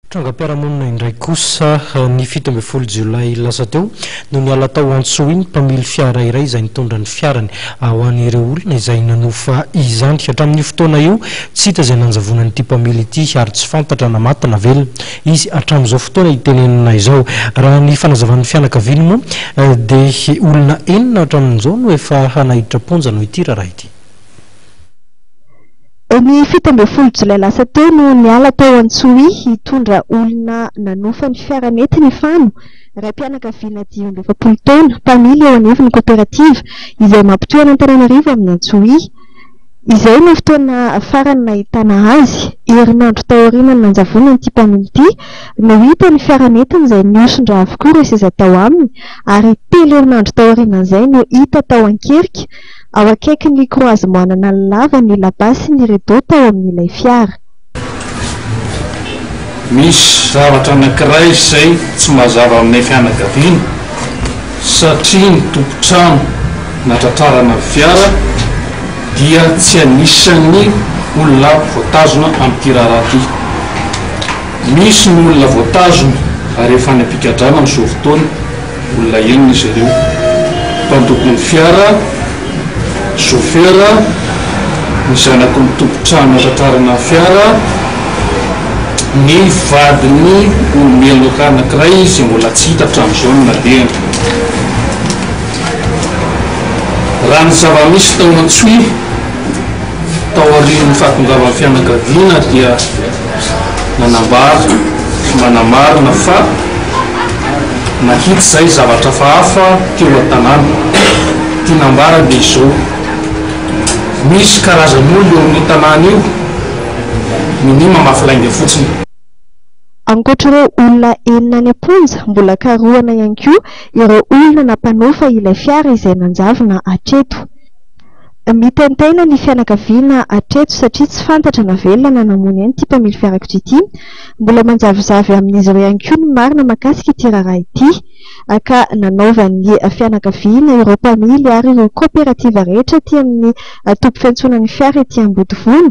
Trangam-piarahamonina indray kosa, ny fito ambin'ny folo jolay lasa teo no niala tao Antsohihy mpamily fiara iray izay nitondra ny fiarany ho an'ireo olona izay nanofa izany. Hatramin'io fotoana io, tsy hita izay nanjavona an'ity mpamily ity ary tsy fantatra na maty na velona izy hatramin'izao fotoana itenenana izao. Raha ny fanazavan'ny fianakaviany moa dia olona enina hatramin'izao no efa naiditra am-ponja noho ity raharaha ity. Ny fito ambin'ny folo jolay lasa teo no niala tao Antsohihy hitondra olona nanofa ny fiara nety ny fano, raim-pianakaviana dimy amby efapolo taona, mpamily eo anivon'ny koperativa izay mampitohy an'Antananarivo amin'i Antsohihy. Izay no fotoana farany nahitana azy. Herinandro taorian'ny nanjavonan'ity mpamily ity no hita ny fiara nentiny izay nihoson-dra avokoa ireo seza tao aminy ary telo herinandro taorianan'izay no hita tao an-kerika Ao akaikin'ny croisement nanalavany ny labasy ny rideau tao amin'ilay fiara. Misy zavatra anankiray izay tsy mazava aminay fianakaviana satria ny tompon-trano natratrarana ny fiara dia tsy anisan'ny olona voatazona amin'ity raharaha ity. Misy ny olona voatazona ary efa any am-pigadrana amin'izao fotoana. Olona enina izy ireo, mpandoko ny fiara, sofera, ny zanaky ny tompon-trano nahatratrarana ny fiara, ny vadin'ny olo-meloka anankiray izay mbola tsy hita hatramin'izao ny nalehany. Raha ny zava-misy tao Antsohihy taorian'ny fahatongavan'ny fianakaviana dia. nanambara sy manamarina fa nahita izay zavatra hafahafa teo an-tanàna. Ity nambarany dia izao, Misy karazan'olona eo amin'io tanàna io, minia mamafy lainga fotsiny. Ankoatra ireo olona enina any am-ponja, mbola karohina ihany koa ireo olona nampanofa ilay fiara izay nanjavona hatreto. Mitaintaina ny fianakaviana hatreto satria tsy fantatra na velona na namoy aina ity mpamily fiarakodia ity. Mbola manjavozavo amin'izy ireo ihany koa ny marina mahakasika ity raharaha ity, ka nanaovan'ny fianakaviana ireo mpamily ary ireo kaoperativa rehetra aty amin'ny toby fiantsonan'ny fiara ety Ambodivona,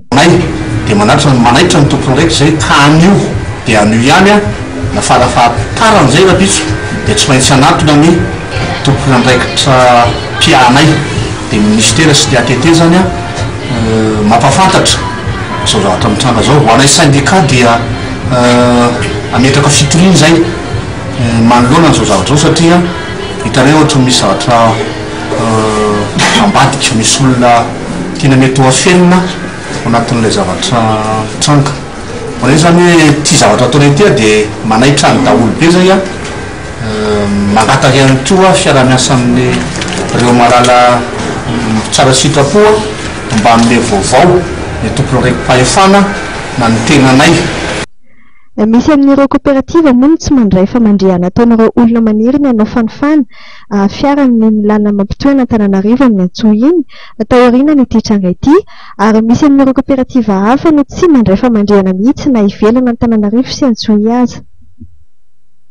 Anay dia manaitra ny manaitra ny tompony raiky izay ka anio dia anio ihany an na farafahatarn'izay rapitso dia tsy maintsy hanatona ny tompon'andraikitra mpiahanay dia ny ministera sy ny ATT zany an mampafantatra izao zavatra mitranga izao ho anay syndicat dia hametraka fitoriana izay manoloana an'izao zavatra izao satria hitanay ohatry ny misy zavatra ambadika misy olona Tena mety ho afenina ao anatin'ilay zavatra mitranga. Voalaza izany hoe ity zavatra ataonay ity aho dia manaitra ny daholo be izay aho. Mangataka ihany koa fiaraha-miasa amin'ireo malala tsara sitrapo aho mba hanome vaovao ny tompon'andraiki-pahefana na ny tenanay. Misy amin'ireo koperativa moa no tsy mandray fa mandre anatao an'ireo olona maniry ny hanao fanofana fiaran'ny ny lalana mampitohy an'Antananarivo amin'ny Antsohihy iny taorianan'ity tranga ity ary misy amin'ireo koperativa hafa no tsy mandray famandrihana mihitsy na ivelan'Antananarivo sy Antsohihy aza.